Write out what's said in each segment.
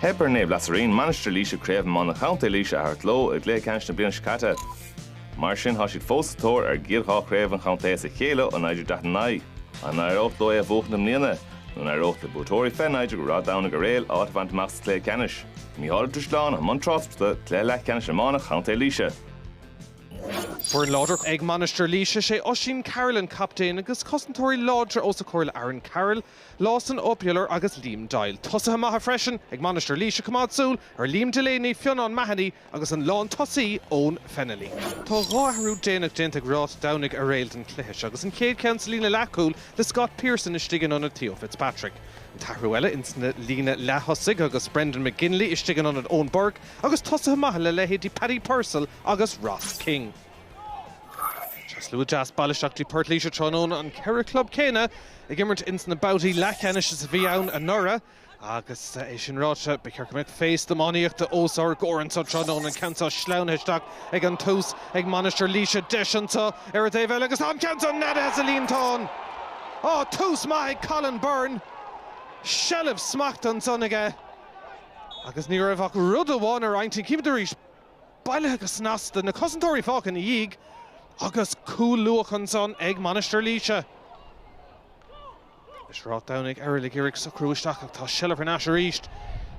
Theip ar Naomh Lazarín, Mainistir Laoise Craobh Iomána Chontae Laoise a thabhairt leo i gcluiche ceannais na bliana seo caite. Mar sin tá siad fós sa tóir ar gcéad dhá chraobh an chontae as a chéile ó 1949. An éireodh leo é a bhuachan i mbliana? Nó an éireodh le buaiteoirí 2019 Ráth Domhnaigh Eiréil áit a bhaint amach sa chluiche ceannais? Micheál Ó Drisleáin, i mbun tráchta, Cluiche Leathcheannais Iomána Chontae Laoise. Foireann láidir ag Mainistir Laoise, sé Oisín Carroll an captaen agus cosantóirí láidre os a chomhair le Aaron Carroll, Lawson Obular agus Liam Doyle. Tosaithe maithe freisin ag Mainistir Laoise, coimeád súil ar Liam Delaney, Fionnán Mahony agus an lán tosaí Eoin Fennelly. Tá dhá athrú déanach déanta ag Ráth Domhnaigh Eiréil don chluiche seo agus an chéad ceann sa líne leath-chúl le Scott Pearson istigh in ionad Theo Fitzpatrick. An t-athrú eile ins na líne leath-thosaigh agus Brandon McGinley istigh in ionad Eoin Burke, agus tosaithe maithe le leithéidí Paddy Purcell agus Ross King. Tá slua deas bailithe isteach dtí Port Laoise tráthnóna, an ceithre chlub céanna ag imirt ins na babhtaí leathcheannais is a bhí ann anuraidh. Agus é sin ráite, ba cheart go mbeadh féasta iománaíochta os ár gcomhair anseo tráthnóna, an ceann seo sleamhnaithe isteach ag an tús ag Mainistir Laoise, deis anseo ar an dtaobh eile agus tá an ceann seo neadaithe sa líontán! Á, tús maith ag Colin Byrne! Seilbh, smacht ansan aige. Agus ní raibh ach rud amháin ar a intinn, címid arís, bailithe go snasta, na cosantóirí fágtha ina dhiaidh agus cúl luath ansan ag Mainistir Laoise. Is Ráth Domhnaigh Eiréil ag iarraidh socrú isteach ach tá seilbh ar n-ais arís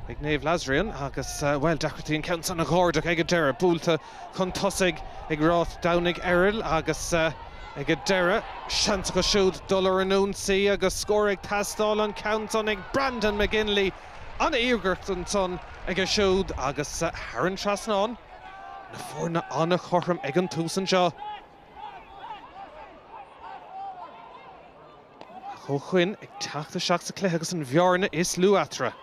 ag Naomh Lazairian agus, bhuel, deacrachtaí an ceann san a dh'ardach ag an deireadh, buailte chun tosaigh ag Ráth Domhnaigh Eiréil agus ag an deireadh, seans acu siúd dul ar an ionsaí agus scór ag teastáil, an ceann san ag Brandon McGinley, an-iarracht ansan aige siúd agus thar an trasnán, na foirne an-chothrom ag an tús anseo. Ach ó shoin, ag teacht isteach sa cluiche agus an bhearna is lú eatarthu.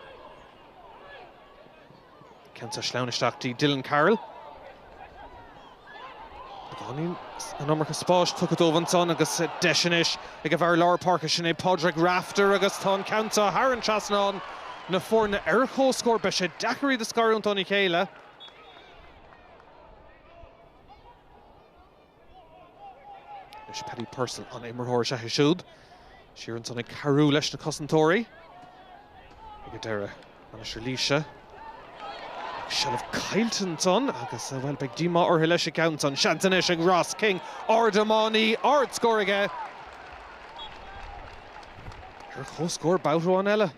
Ceann seo sleamhnaithe isteach dtí Dylan Carroll. Beagáinín an iomarca spáis tugtha dóibh ansan agus deis anois ag a bhfear lár páirce sin é Pádraig Rafter agus tá an ceann seo thar an trasnán. Na foirne ar comhscór, beidh sé deacair iad a scarúint óna chéile. Anois Paddy Purcell, an-imreoir is ea é siúd, siar ansan ag cabhrú leis na cosantóirí. Ag an deireadh, Mainistir Laoise. Seilbh caillte ansan agus, bhuel, beidh díomá orthu leis an gceann san. Seans anois ag Ross King, ard-iománaí, ard-scór aige. Ar comhscór babhta amháin eile.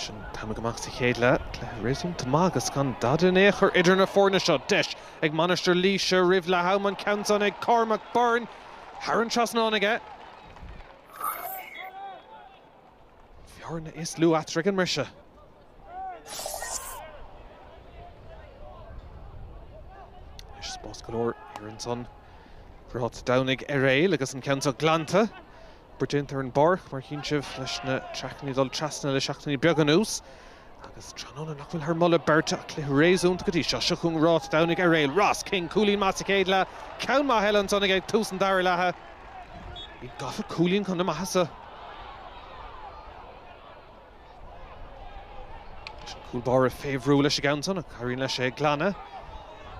Siúd amach sa chéad leath. Cluiche réasúnta maith agus gan dad in aon chor idir na foirne seo. Deis ag Mainistir Laoise roimh leath am an ceann san ag Cormac Byrne. Thar an trasnán aige. Bearna dhá chúilín ag an mbriseadh. Anois spás go leor ansan ag Ráth Domhnaigh Airéil agus an ceann seo glanta. Obair déanta ar an bpáirc mar chíonn sibh leis na traicní dul trasna le seachtainí beaga anuas. Agus tráthnóna nach bhfuil thar mholadh beirte ach cluiche réasúnta go dtí seo. Seo chugainn Ráth Domhnaigh Airéil. Ross King, cúilín maith sa chéad leath. Ceann maith eile ansan aige ag tús an dara leatha. Iad gafa cúilín chun a maitheasa. Leis an gcúl báire fé bhrú leis an gceann san ach éiríonn leis é a ghlanadh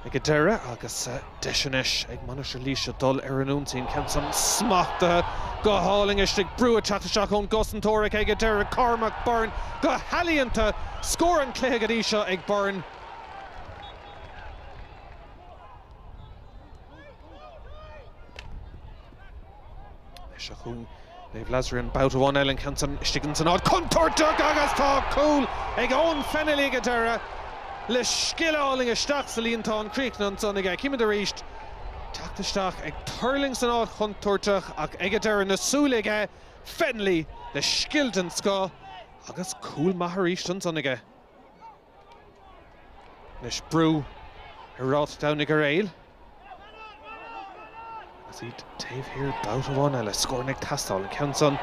ag an deireadh agus deis anois ag Mainistir Laoise dul ar an ionsaí. Ceann san smachtaithe go hálainn istigh. Brú ag teacht isteach ón gcosantóir ach ag an deireadh, Cormac Byrne go healaíonta. Scór an chluiche go dtí seo ag Byrne. Anois seo chugainn Naomh Lazarian babhta amháin eile an ceann san istigh ins an áit chontúirteach agus tá cúl ag Eoin Fennelly ag an deireadh le scil álainn isteach sa líontán críochnaithe ansan aige. Chímid arís teacht isteach ag tuirlingt san áit chontúirteach ach ag an deireadh na súile ag Fennelly le scil den scoth agus cúl maith arís ansan aige. anois brú ar Ráth Domhnaigh Airéil agus iad taobh thiar babhta amháin eile. Scóranna ag teastáil, an ceann san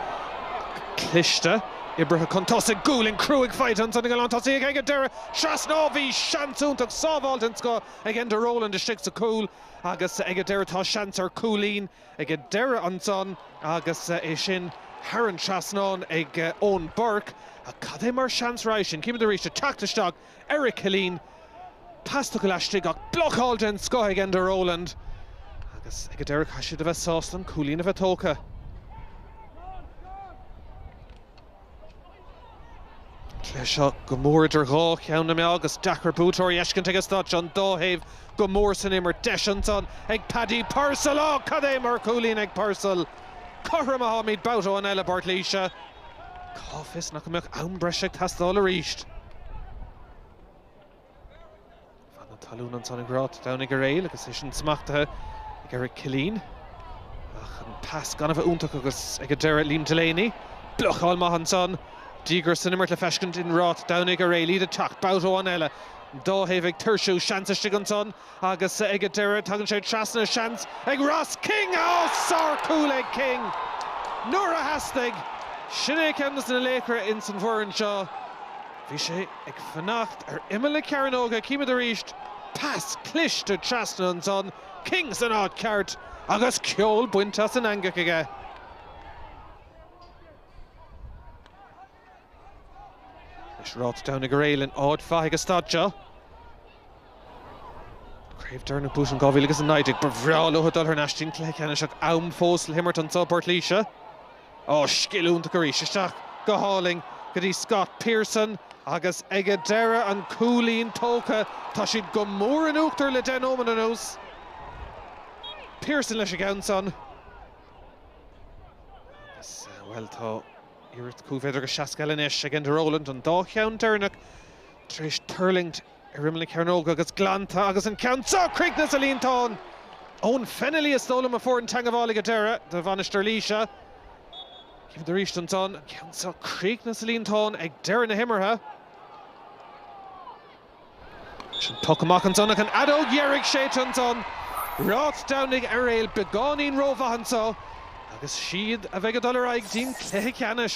cliste, oibrithe chun tosaigh, gualainn chruaigh faighte ansan ag an lántosaí ach ag an deireadh. Trasnáil, bhí seans iontach, sábháil den scoth ag Enda Rowland istigh sa chúl agus ag an deireadh tá seans ar chúilín. Ag an deireadh ansan agus é sin thar an trasnán ag Eoin Burke, ach cad é mar sheans roimhe sin, chímid arís ag teacht isteach Eric Killeen, pas tugtha laistigh ach blocáil den scoth ag Enda Rowland agus ag an deireadh caithfidh siad a bheith sásta an cúilín a bheith tógtha. cluiche seo go mór idir dhá cheann na meá agus deacair buaiteoir a fheiscint ag an staid seo. An dá thaobh go mór san imirt. Deis ansan ag Paddy Purcell. Á, cad é mar chúilín ag Purcell! Cothrom atáimid babhta amháin eile i bPort Laoise. Cá bhfios nach mbeadh am breise ag teastáil arís? Fan na talún ansan ag Ráth Domhnaigh Airéil agus é sin smachtaithe ag Eric Killeen. Ach an pas gan a bheith iontach agus ag an deireadh Liam Delaney. Blocáil maith ansan. Díograis san imirt le feiscint i Ráth Domhnaigh Airéil. Iad ag teacht. Babhta amháin eile. An dá thaobh ag tuirsiú. Seans istigh ansan. Agus ag an deireadh tagann sé trasna seans ag Ross King! Á! Sár cúl ag King nuair a theastaigh. Sin é ceann des na laochra ins an bhfoireann seo. Bhí sé ag fanacht ar imeall na cearnóga címid arís. Pas cliste trasna ansan, King san áit ceart agus ceol bainte as an eangach aige. Anois Ráth Domhnaigh Eiréil in áit mhaith ag an staid seo. Craobh dheireanach buaite in 2019. Ba bhreá leo dul thar n-ais dtí'n cluiche ceannais ach am fós le himirt anso i bPort Laoise. Á, scil iontach arís. Isteach go hálainn go dtí Scott Pearson agus ag a deireadh an cúilín tógtha. Tá siad go mór in uachtar le deich nóimead anuas. Pearson leis an gceann san. Agus, bhuel, tá. Iarracht cúig mhéadar agus 60 eile anois ag Enda Rowland, an dá cheann deireanach tar éis tuirlingt ar imeall na cearnóga agus glanta agus an ceann seo! Críochnaithe sa líontán! Eoghan Fennelly is dóigh liom a fuair an teangabháil ag deireadh do Mhainistir Laoise. Címid arís ansan an ceann seo críochnaithe sa líontán ag deireadh na himeartha. Is an poc amach ansan ach an fheadóg dheiridh séidte ansan. Ráth Domhnaigh Eiréil beagáinín rómhaith anso agus is iad a bheidh ag dul ar aghaidh dtí'n cluiche ceannais.